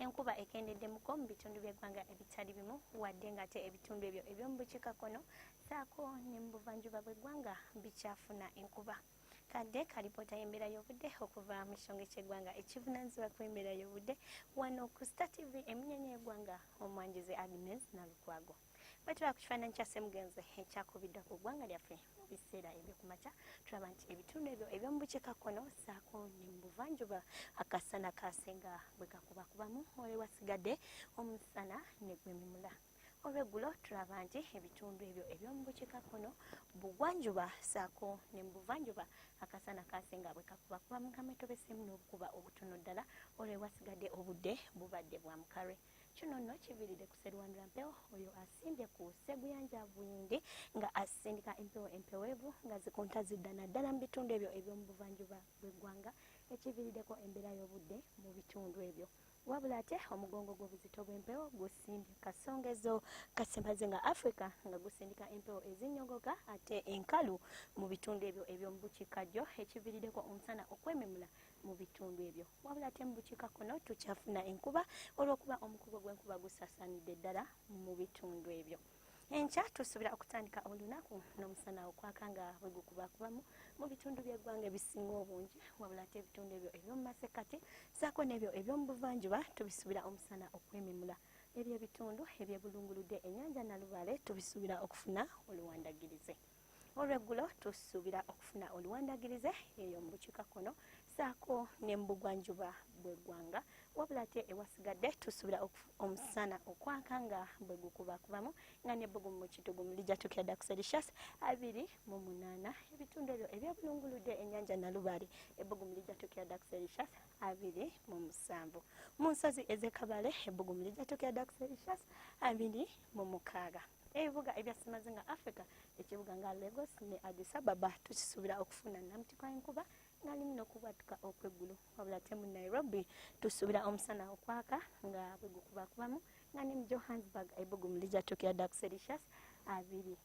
enkuba ekendeddemuko mu bitundu by'eggwanga ebitali bimu wadde ng'ate ebitundu ebyo eby'omu bukiikakkono saako ne mu buvanjuba bw'eggwanga bikyafuna enkuba kadde kalipoota y'embeera y'obudde okuva mu kisonge ky'eggwanga ekivunanyizibwa ku embeera y'obudde wano ku star tv emunyanya y'eggwanga omwanjuzi agnes nalukwago bwetulaba ku kifaananyi kya semugenzi ekyakubiddwa ku ggwanga lyaffe mu biseera ebyokumakya tulaba nti ebitundu ebyo ebyomu bukiika kkono saako ne mu buvanjuba akasana kaasinga bwe kakubakubamu ole wasigadde omusana ne gwemimula olweggulo tulaba nti ebitundu ebyo ebyomu bukiika kkono bugwanjuba saako ne mu buvanjuba akasana kaasinga bwe kakubakubamu nga mwetobesemu n'obukuba obutono ddala olwewasigadde obudde bubadde bwa mukalwe kino nno kiviiridde ku serwandula mpewo oyo asimbye ku seguyanja buyindi nga asindika empewo empeweevu nga zikunta zidda naddala mu bitundu ebyo eby'omu buvanjuba bw'eggwanga ekiviiriddeko embeera y'obudde mu bitundu ebyo wabula ate omugongo gw'obuzito bw'empewo gusimbye kasongezo kasemaze nga africa nga gusindika empewo ezinnyogoka ate enkalu mu bitundu ebyo eby'omu bukiikaddyo ekiviiriddeko omusana okwememula mu bitundu ebyo wabula ate mu bukiikakkono tukyafuna enkuba olw'okuba omukugo gw'enkuba gusaasaanidde ddala mu bitundu ebyo enkya tusuubira okutandika olunaku n'omusana okwaka nga bwe gukubakubamu mu bitundu by'eggwanga ebisinga obungi wabula ate ebitundu ebyo eby'omu masekkati saako n'ebyo eby'omu buvanjuba tubisuubira omusana okwememula ebyo ebitundu ebyebulunguludde ennyanja nalubaale tubisuubira okufuna oluwandagirize olweggulo tusuubira okufuna oluwandagirize eyo mu bukiikakkono saako ne mu bugwanjuba bw'eggwanga wabula ate ewasigadde tusuubira omusana okwaka nga bwe gukubakubamu nga ne bbugumu mu kitugumu lijatukira dda ku celsius abiri mu munaana ebitundu ebyo ebyabulunguludde ennyanja nalubaale ebbugumu lijatukira dda ku celsius abiri mu musanvu mu nsozi ez'ekabale ebbugumu lijatukira dda ku celsius abiri mu mukaaga ebibuga ebya ssemazinga africa ekibuga nga lagos ne addis ababa tukisuubira okufuna namutikwa enkuba nga limu n'okubwatuka okweggulo wabula te mu nairobi tusuubira omusana okwaka nga bwe gukubakubamu nga ne mu johannesburg ebugumu lijatuukira ddala ku celsius abiri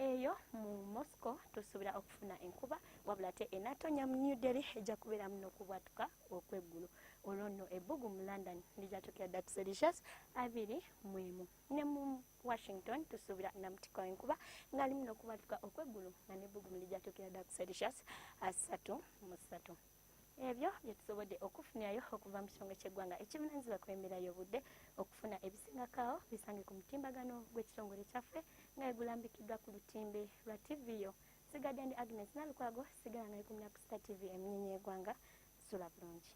eyo mu moscow tusuubira okufuna enkuba wabula te enatonya mu new delhi ejja kubeeramu n'okubwatuka okweggulo olwo nno ebbugu mu london lijatuukira ddala ku celsius abiri mu emu ne mu washington tusuubira namutiko enkuba ngaali muno okubatuka okweggulu nga nebbugumu lijatukira dda ku celsius asatu mu ssatu ebyo byetusobodde okufunirayo okuva mu kitongole kyeggwanga ekivunanyizibwa ku embeera y'obudde okufuna ebisingakawo bisange ku mutimbagano gw'ekitongole kyaffe nga egulambikiddwa ku lutimbe lwa tivi yo sigadde ndi agnes nalukwago sigala nga ekumira ku sita tivi eminyenye egwanga sula bulungi